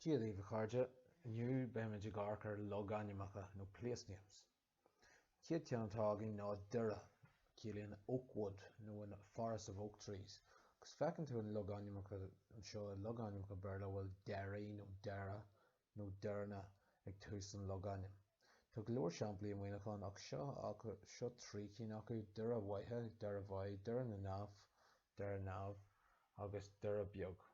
Dia dhaoibh a chairde, inniu beimid ag amharc ar logainmneacha nó place names. An chéad ceann atá againn ná Doire, ciallaíonn oak wood nó an forest of oak trees agus feiceann tú an logainmneacha anseo i logainmneacha Béarla a bhfuil Derry nó Derra nó Derna ag tús an logainm. Tá go leor samplaí i Muineachán ach seo, seo trí cinn acu, Doire Bheithe, Derryveagh, Doire na nDamh, Doire Neamh, agus Doire Beag.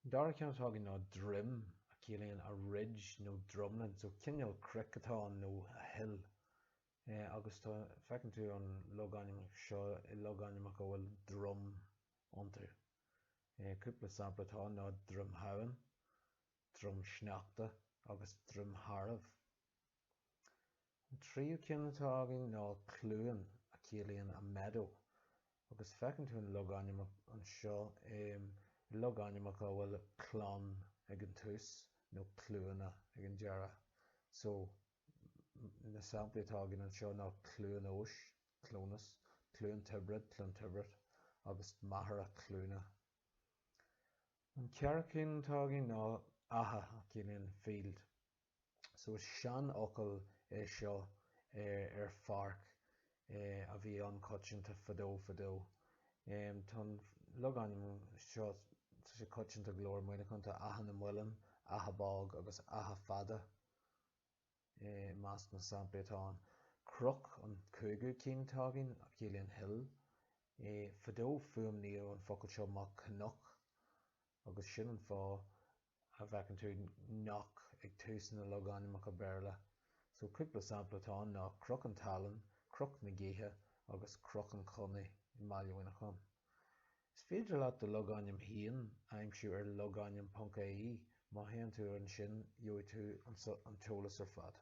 An dara ceann atá againn ná droim, a chiallaíonn a ridge nó drumlin, so cineál cnoic atá ann nó a hill. Agus tá, feiceann tú an logainm seo i logainmneacha a bhfuil drum iontu. Cúpla sampla atá ann ná Droim Shamhain, Droim Sneachta agus Droim Thairbh. An tríú ceann atá againn ná Cluain a chiallaíonn a meadow agus feiceann tú an logainm anseo i logainmneacha a bhfuil Clon ag an tús nó cluana ag an deireadh. Na samplaí atá againn anseo ná Cluain Eois, Clones, Cluain Tiobrad, Clontibret, agus Machaire Cluana. An ceathrú cinn atá againn ná Achadh a chiallaíonn field. So is seanfhocal é seo ar pháirc a bhí an-choitianta fadó fadó. Tá an logainm seo, tá sé coitianta go leor i Muineachán, tá Achadh na Muileann, Achadh Bog agus Achadh Fada. I measc na samplaí atá ann, Cnoc an cúigiú cinn atá againn, a chiallaíonn hill. Fadó fuaimníodh an focal seo mar cnoc agus sin an fáth a bhfeiceann tú knock ag tús na logainmneacha Béarla. So cúpla sampla atá ann ná Cnoc an tSalainn, Cnoc na Gaoithe agus Cnoc an Chonnaidh i mBaile Mhuineacháin. Is féidir leat do logainm féin a aimsiú ar logainm.ie, má théann tú air ansin gheobhaidh tú an t-eolas ar fad.